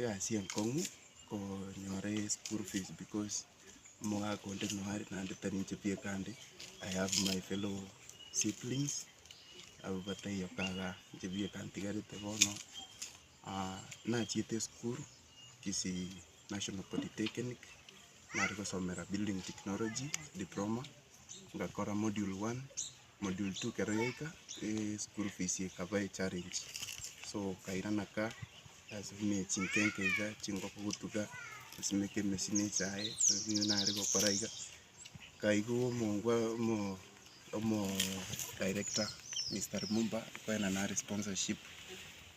egasi enkong'u konyora eschool fees because omogaka onde noo are naende tari inche pi ekande, I have my fellow siblings abwo batari yoka iga, inche pi ekantigarete bono. nachiete esukuru Kisii National Polytechnic, nare gosomera building technology diploma, ngakora module one. module two ekero yaika, school fees ekaba echallenge, so nkairana ka, ase buna chinkenke iga, chingoko gotuga, gosimeka emesini ense aye, nigo nare gokora iga, nkaigwa omongwa omo- omo director Mister Limumba, nkabaena nare sponsorship.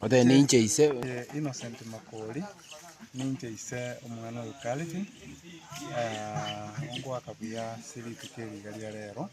Obe ninche ise. Innocent Makori, ninche ise omwana oyo Carlton, ngoaka buya ase rituko eri iga ria rero,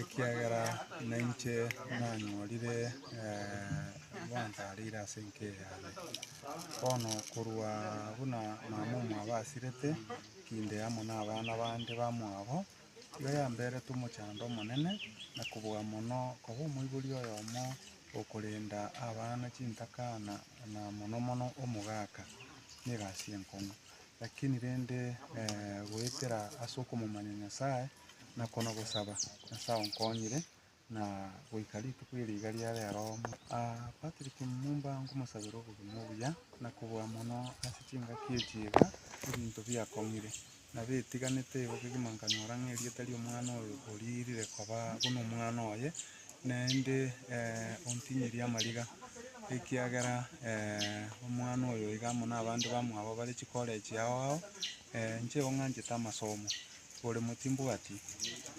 ekiagera nainche nanyorire gwansareire ase enka eye yane. Bono korwa buna mama omwabo asirete, kinde amo na abana bande bamwabo, Erio yamberetwe omochando omonene, na kobua mono koba omoibori oyomo okorenda abana chintaka na na mono mono omogaka negasi enkong'u. Lakini rende goetera ase okomomanya Nyasae, na kona gosaba, Nyasae onkonyire, na goika rituko eri iga ria rero omo. Aa Patrick Mumba ngomosabera obogima obuya na kobua mono ase chingaki echi iga ebinto biakong'ire na betiganete igo kegima nkanyora ng'a erieta ria omwana oyo oriirire koba buna omwana oye naende ontinyirie amariga ekiagera omwana oyo iga amo nabande bamwabo bare chikorechi ao ao inche igo ng'anchete amasomo Oboremo timbwati,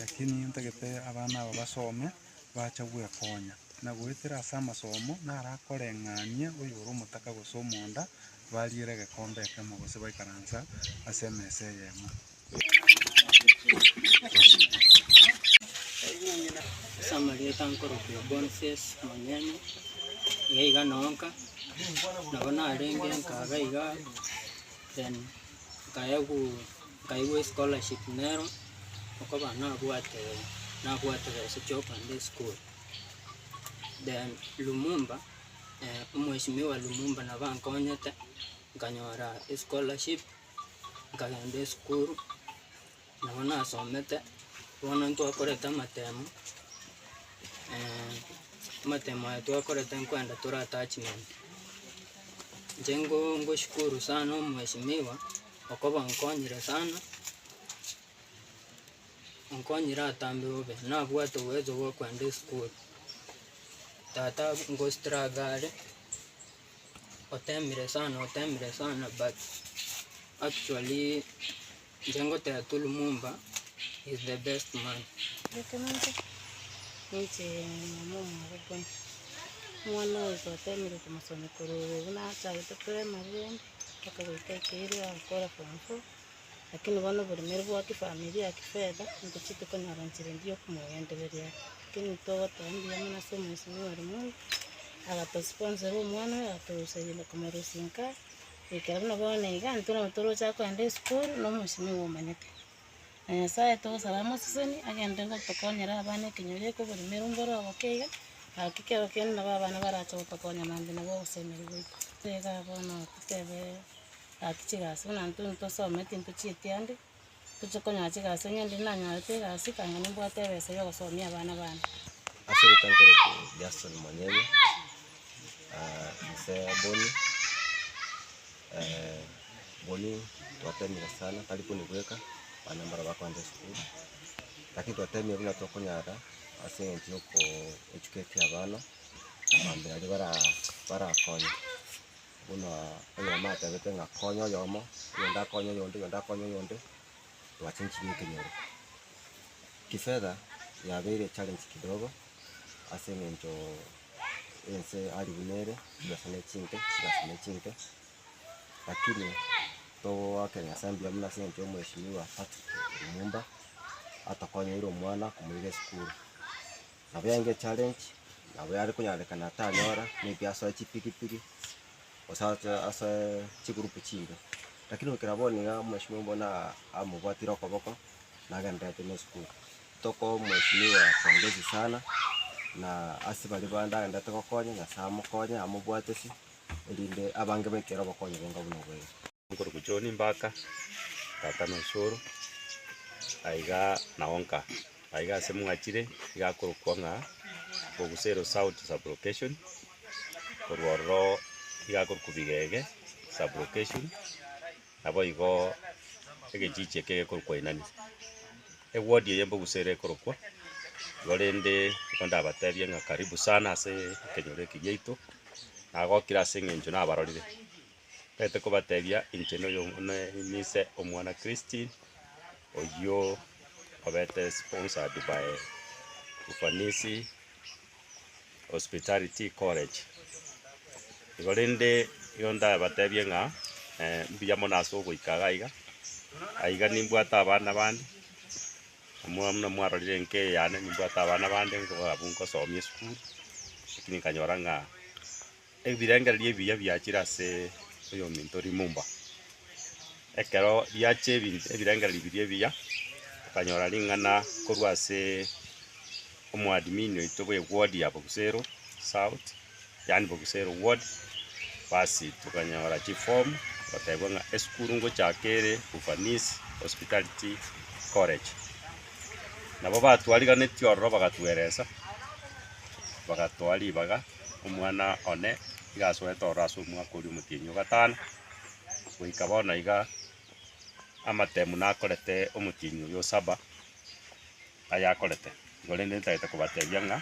lakini ntagete abana aba basome, bache gwekonya, na goetera ase amasomo narakoreng'anie oyore omotaka gose omonda, bariere egekombe ekemo gose baikaransa ase emesa eyemo. Ase amarieta nkorokigwa Boniface Monyene, iga iga nonka, nabo narenge nkaga iga, then nkaegwa. Nkaigwa escholarship nero okoba nabwate nabwate besa chiokogenda esukuru. Then Lumumba omweshimiwa Lumumba nabo ankonyete nkanyora escholarship nkagenda esukuru nabo nasomete bono ntwakorete amatemo amatemo aya twakorete nkwenda tore attachment. Inche ngo ngoshukuru sana omweshimiwa. Okobankonyire sana, onkonyire atambe bobe, nabwate oboyosi bw'okogenda esukuru. Tata ngostruggle are, otemire sana otemire sana but actually inche ngoteba tu Lumumba is the best man. Ekenyoro ninche mama omwabo buna, omwana oyo twatemire komosomia korwa obo buna achagete primary rende. Akagoika ekeiro agakora form four, lakini bono oboremere bwa kifamilia, kifedha, nigo chitokonyora nchera endi yokomogendereria aya. Lakini ntogoteba mbuya mono ase omwesinwa ore mono, agatosponsera omwana oyo, agatoroseria komorusia inka, goikera buna bono iga, intwe nabo toroche kogenda esukuru, na omwesinwa iga omanyete. Na Nyasaye togosaba amoseseni, agende gotokonyera abana ekenyoro eke oboremere ombe ore oboke iga, gaki kero kende nabo abana barache gotokonya maambia nabo ogosemeria gwaito. Teba bono totebe gaki chigasi buna intwe ntosome tintochieti ande, toche konyora chigasi onye inde nanyorete egasi kang'e nimbwate ebesa ya ogosomia abana bane. Ase eritanko riaito Jason Monyene, inse Boni. Boni twatemire sana tari konibweka abana mbaro bakoenda esukuru, lakini twatemire buna tokonyara ase eng'encho ya okoeducati abana mambia aria bara barakonye buna oyomo atebete ng'a konya oyomo, oyonde akonye oyonde, oyonde akonye oyonde, twachenchirie ekenyoro. Kifedha yabeire challenge kidogo. ase eng'encho ense aribu nere, chigasa ne chinke, chigasa ne chinke, lakini togoakera Nyasae mbuya mono ase eng'encho ya Mweshimiwa Patrick Lumumba, atokonyoire omwana komoira esukuru. Nabo yabaire echallenge, nabo yare konyarekana tanyora, maybe asoe chipigipigi, gose ache asoe chigroup chimbe, lakini goikera bono iga Mweshimiwa Lumumba buna amobwatire okoboko, nagendererete na esukuru. Toko mweshimiwa pongezi sana na ase baria bande agenderete gokonya nyasaye amokonye amobwatesie erinde abange baikere obokonyoro onga buna obo ere. Nkoruku John Mbaka, tata na osoro, aiga nao nka aiga ase mwachire iga akorokwa ng'a Bogusero South Sub-location, korwa ororo iga akorokwa Bigege Sub-location. Naboigo egechichi eke gekorwa Koinania, ewodi eye mboguse ere ekorokwa igo, rende nigo ndabatebie ng'a karibu sana ase ekenyoro eke giaito, nagokire ase eng'encho nabarorire, ntagete kobatebia inche noyo ne nise omwana Christine oyio obete sponsored by ufanisi. Hospitality College. Igo rende nigo ndabatebie ng'a mbuya mono ase ogoika iga iga, aiga nimbwate abana bande, muna muna mwarorire enka eye yane nimbwate abana bande, abwo nkosomia esukuru, lakini nkanyora ng'a. Ebirengererio ebiya biachire ase oyominto rimumba. Ekero riachia ebinto ebirengererio biria ebiya, okanyora ring'ana korwa ase omoadmin oito bwe ward ya Bogusero south, yaani Bogusero ward, basi tokanyora chiform gotebwa ng'a esukuru ngochaka ere Ufanisi hospitality college. Nabo batwariganeti ororo bagatueresa, bagatoa ribaga. omwana one iga asoete ororo ase omwaka oria omotienyi o gatano, goika bono iga amatemu nakorete omotienyi oyo o saba, ayakorete, igo rende ntagete kobatebia ng'a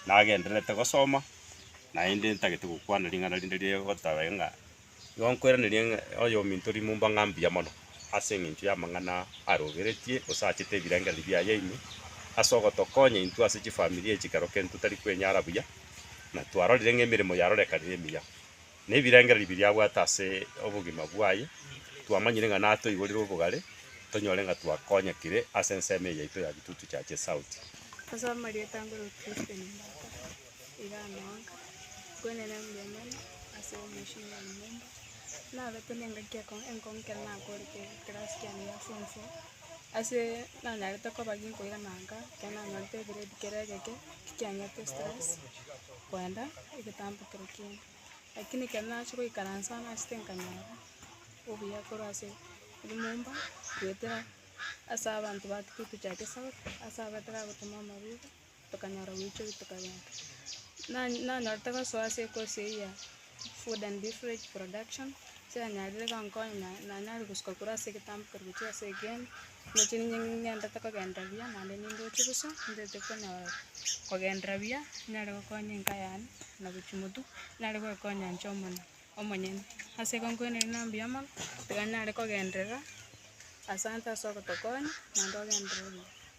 nagendererete gosoma, naende ntagete gokwana ring'ana rinde rigotabe ng'a. Nigo nkoiraneria ng'a oyominto rimumba ng'a mbuya mono, ase engencho y'amang'ana aroberetie, gose achete ebirengererio biaye ime, ase ogotokonya intwe ase chifamilia echi ekero kende totari kwenyara buya, na twarorire ng'a emeremo yarorekanire emiya, na ebirengererio biria abwate ase obogima bwaye, twamanyire ng'a natoigorire obogare, tonyore ng'a twakonyekire ase ensemo eye yaito ya Gitutu Church South. Ase amarieta angorokire Stephen Mbata. igamoaka, Nkwenene mbuya mono ase omochie o nyomba, nabete nengaki ekong'u enkong'u ekero nakorete ekerasi kiane gia form four, ase nanyarete koba ginkoira nanka, ekero nanyorete egrade kere egeke, tikianyete stress kwenda egetambe kere ekiya, lakini ekero nachia goikaransa nachete nkanyora obuya korwa ase nyomba, goetera ase abanto batugete chia gesaku, ase ababete bagotema amarwaire. tokanyora goichoria tokagenda. Na- nanyorete gosoa ase ekosi eyio ya food and beverage production, ase yanyarire gonkonya na- nanyare gosuka korwa ase egetambe korwa gochia ase egeeni, ndoche ninye ning'endete kogenda buya naende nindoche bosa, nintete konyora kogendera buya, ninyare gokonya enka yane, na gochia motwe, ninyare goekonya inche omonyene omonyene. Ase igo nkwenerete na mbuya mono, tiga ninyare kogenderera asante ase ogotokonya, naende ogenderere buya.